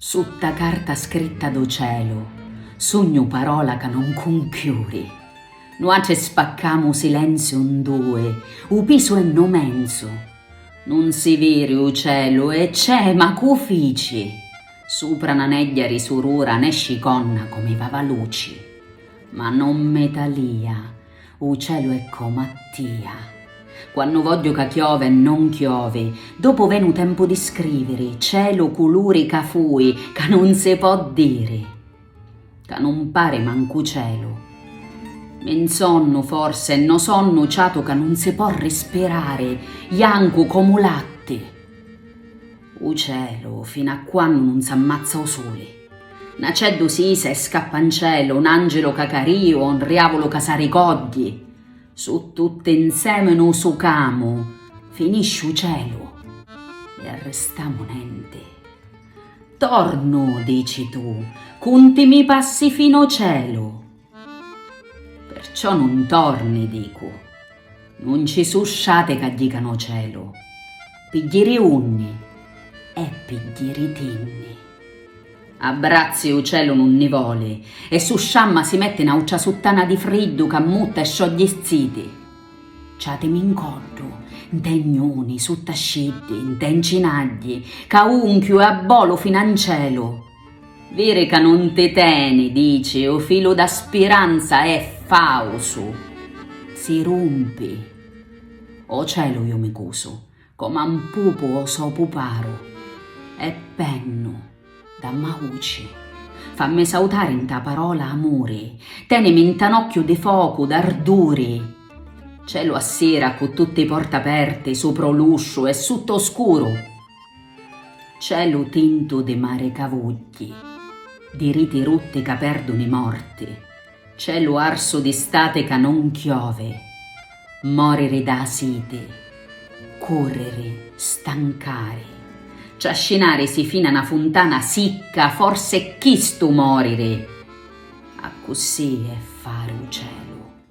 Sutta carta scritta do celu. Sugnu parola ca non cunchiuri. Nuatri spaccamu u silenziu n dui, u pisu è no menzu. Nun si viri u celu e c'è ma cu fici? Supra na negghia ri surura nesci conna comi vava luci. Ma non me talia U celu è comu a tia. Quannu vogghiu ca chiove e non chiovi, dopu venu tempu di scriviri, celu culuri ca fui, ca non si po' diri. Ca non pari mancu celu. Mi 'nsonnu forse e no sonnu ciatu ca non si po' rispirari, jancu comu latti. U celu finu a quannu non s'ammazza u suli. N'aceddu s'isa e scappa 'n celu, n'angilu ca cariu o 'n riavulu ca s'aricoddi, su tutti 'nsemi nu sucamu, finisci 'u celu e arristamu nenti. Tornu, dici tu, cuntimi passi fino celu, Perciò nun torni, dicu. Nun ci su' sciati ca jicanu o celu. Pi jiri unni? E pi jiri tinni. A brazzi u celu nun ni voli, e su sciamma si metti n'autra suttana di friddu ca mutta e sciogli ziti. Ciatimi 'n coddu, nt'e gnuni, sutta sciddi, nt'e ncinagli, ca unchiu e abbolu fina 'n celu. Viri ca nun ti teni, dici, u filu da spiranza è fausu, si rumpi. O celu ju mi cusu, coma n pupu o so puparu, e pennu, dammauci, fammi sautari nta parola amuri, tenimi nta n'occhiu di focu, d'arduri. Celu a sira cu tutti i porta aperti, supra o lusciu e sutta o scuru, Celu tintu di mari ca vugghi, di riti rutti ca perdunu i morti, celu arsu di stati ca non chiovi, moriri dâ siti, curriri, stancari, trascinarisi fina na funtana sicca, forsi è chistu moriri, accussì è fari u celu.